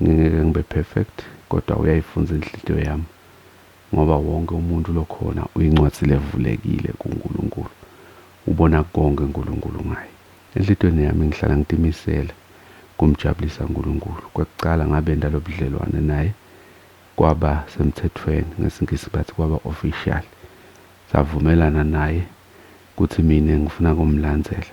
Ngingeke ngibe perfect kodwa uyayifunza inhliziyo yami ngoba wonke umuntu lokhona uyincwadi levulekile kuNkulunkulu. Ubona konke uNkulunkulu ngaye. Enhliziyweni yami ngihlala ngitimisele kumjabulisa uNkulunkulu. Kwekuqala ngabenda lobudlelwane naye kwaba semthethweni, ngesiNgisi bathi kwaba official. Savumelana naye kuthi mina ngifuna kumlandzela.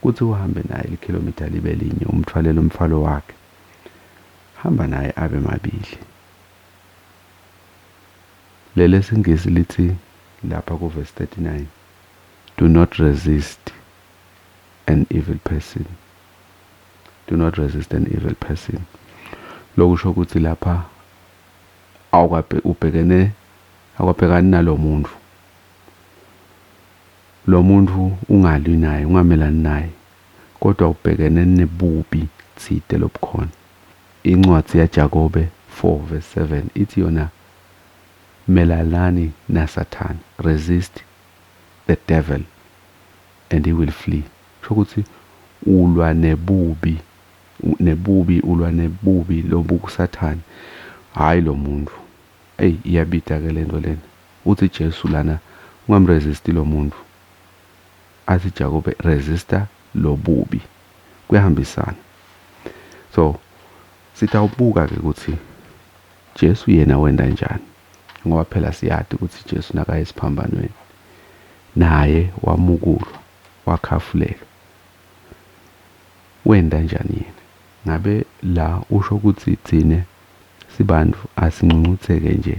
Kuthi uhambe naye likhilomitha libe linye umthwalele umthwalo wakhe. Hamba naye abe mabili. LelesiNgisi lithi lapha kuVesi 39, Do not resist an evil person. Do not resist an evil person. Lokusho ukuthi lapha awukabhekene awukabhekani nalomuntu. Lomuntu ungalwi naye ungamelani naye kodwa ubhekene nebubi tsite lobukhona. Incwadzi ya Jakobe 4 verse 7 itsi yona melanani na sathane, resist the devil and he will flee. Kusho kutsi ulwa nebubi, nebubi ulwa nebubi lobuku sathane hhayi lomuntu. Ey iyabita ke lento lena. Uthi Jesu lana ungamresist lomuntu athi Jakobe resista lobubi kuyahambisana so sitawubuka ke ukuthi Jesu yena wenda njani ngoba phela siyati ukuthi Jesu nakaya esiphambanweni naye wamukulwa wakhafulelwa wenda njani yena ngabe la usho ukuthi thina sibantu asincuncuthe ke nje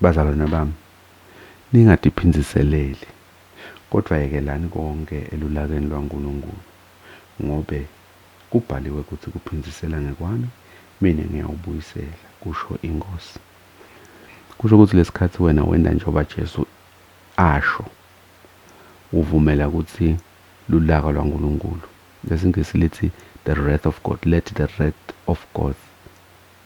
Bazalwane bami, ningadiphinziseleli, kodwa yekelani konke elulakeni lwaNkulunkulu, ngobe kubhaliwe kuthi kuphinzisela ngekwami, mina ngiyawubuyisela, kusho iNkosi. Kusho ukuthi lesikhathi wena wenda njengoba Jesu asho, uvumela kuthi lulaka lwaNkulunkulu, ngesiNgisi lithi the wrath of God, let the wrath of God.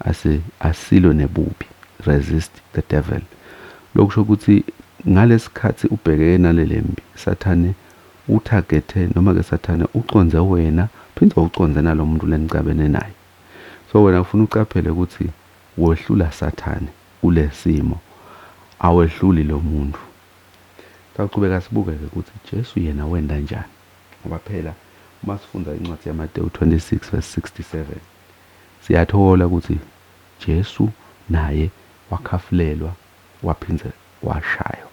asi, asilwe nebubi, resist the devil. Lokhu kusho ukuthi ngalesikhathi ubhekeke nalelempi, Sathane uthagethe, noma-ke Sathane uconze wena, phinde uconze nalomuntu lenixabene naye. So wena kufuna uqaphele ukuthi wehlula Sathane kulesimo, awehluli lomuntu. Sawuqhubeka sibuke-ke ukuthi Jesu yena wenda njani, ngoba phela uma sifunda incwadi yaMatewu 26 verse 67, Siyathola ukuthi Jesu naye wakhafulelwa waphinde washaywa.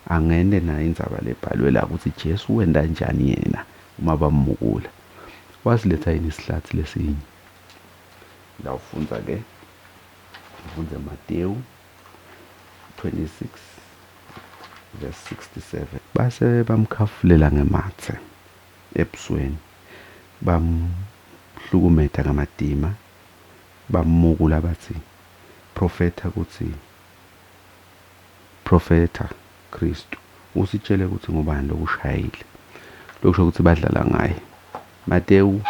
Angende nayo indzaba le ebhalwe la ukuthi Jesu wenta njani yena uma bamukula. Wasiletha yini isihlathi lesinye? La ufundza ke, ufundze Matewu 26 verse 67. Base bamkhafulela ngematse, ebusweni, bamhlukumeta ngamadima, bamukula bathi, Profetha kutsi, Profetha, Khristu, usitjele kutsi ngubani lokushayile. Lokusho kutsi badlala ngaye. Matewu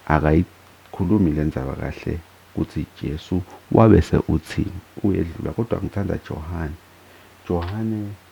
akayikhulumi lendzaba kahle kutsi Jesu wabese utsini, uyedlula, kodwa ngitsandza Johane. Johane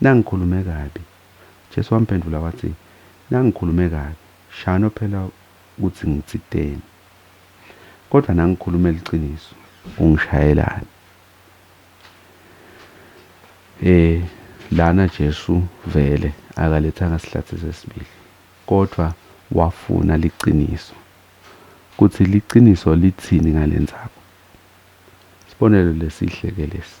Nangikhulume kabi? Jesu wamphendula wathi, Nangikhulume kabi, shano phela ukuthi ngitsiteni. Kodwa nangikhulumela iqiniso, ungishayelani? E, lana Jesu vele akalethanga sihlathi sesibili, kodwa wafuna liqiniso, kuthi liqiniso lithini ngalenzaba. Isibonelo lesihle ke lesi.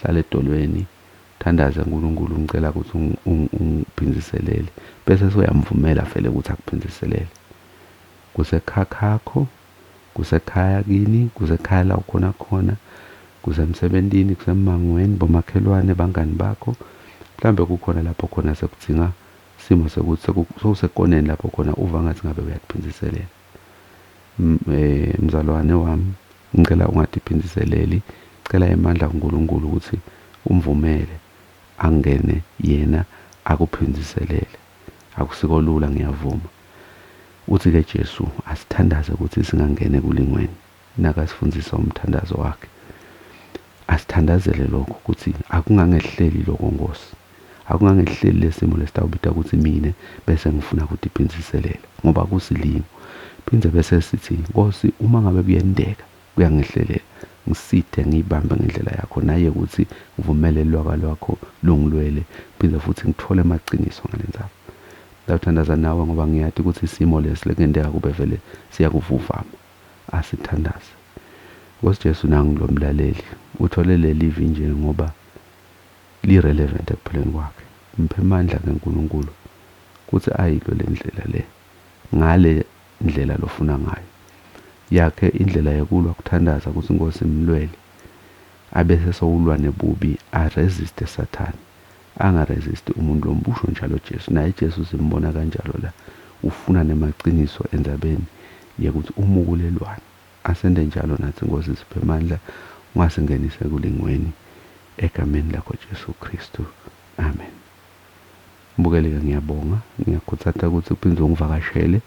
Hlala edolweni, thandaza kuNkulunkulu umcela ukuthi ungiphindiselele, bese sewuyamvumela vele ukuthi akuphindiselele. Kusekhakhakho, kusekhaya kini, kusekhaya la ukhona khona, kusemsebentini, kusemangweni, bomakhelwane, bangani bakho, mhlawumbe kukhona lapho khona sekudzinga simo sekuthi sewusekoneni lapho khona uva ngathi ngabe uyakuphindiselela. Mzalwane wami ngicela ungadiphinziseleli cela emandla kuNkulunkulu ukuthi umvumele angene yena akuphinziselele akusiko lula ngiyavuma uthi ke Jesu asithandaze ukuthi singangeni ekulingweni. nakasifundisa umthandazo wakhe asithandazele lokho ukuthi akungangehleli lokho Nkosi akungangehleli lesimo lesitawubita ukuthi mina bese ngifuna ukuthi phinziselela ngoba kusilimo phinde bese sithi Nkosi uma ngabe kuyendeka kuyangehlelela ngisithe ngiyibambe ngendlela yakho naye ukuthi ngivumele ilwaka lwakho lungilwele phinde futhi ngithole amaqiniso ngalenzaba Ngiyawuthandaza nawe ngoba ngiyati ukuthi isimo lesi lekuyenteka kube vele siyakuvuvama. asithandaze. Nkosi Jesu nangu lo mlaleli uthole lelivi nje ngoba li relevant ekuphileni kwakhe. Mphe mandla ke Nkulunkulu kuthi ayilwe lendlela le ngale ndlela lofuna ngayo. Yakhe indlela yokulwa kuthandaza kuthi Nkosi mlwele abese sowulwa nebubi a resiste sathane. Anga resist umuntu lombusho njalo Jesu naye Jesu simbona kanjalo la ufuna nemaciniso endzabeni yekuthi umukulelwani asente njalo natsi Nkosi siphe mandla ungasingenisi ekulingweni egameni lakho Jesu Kristu Amen Mbukeli ke ngiyabonga ngiyakhutsata kutsi uphindze ungivakashele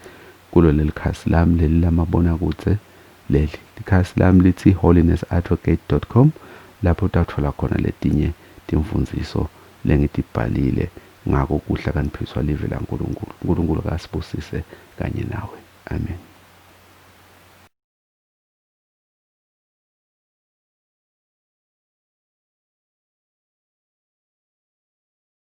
kulo lelikhasi lami leli lamabonakudze Leli likhasi lami lithi holiness-advocate dot com lapho utawutfola khona letinye timfundziso lengitibhalile ngako kudla kaniphiswa live la Nkulunkulu. Nkulunkulu akasibusise kanye nawe. Amen.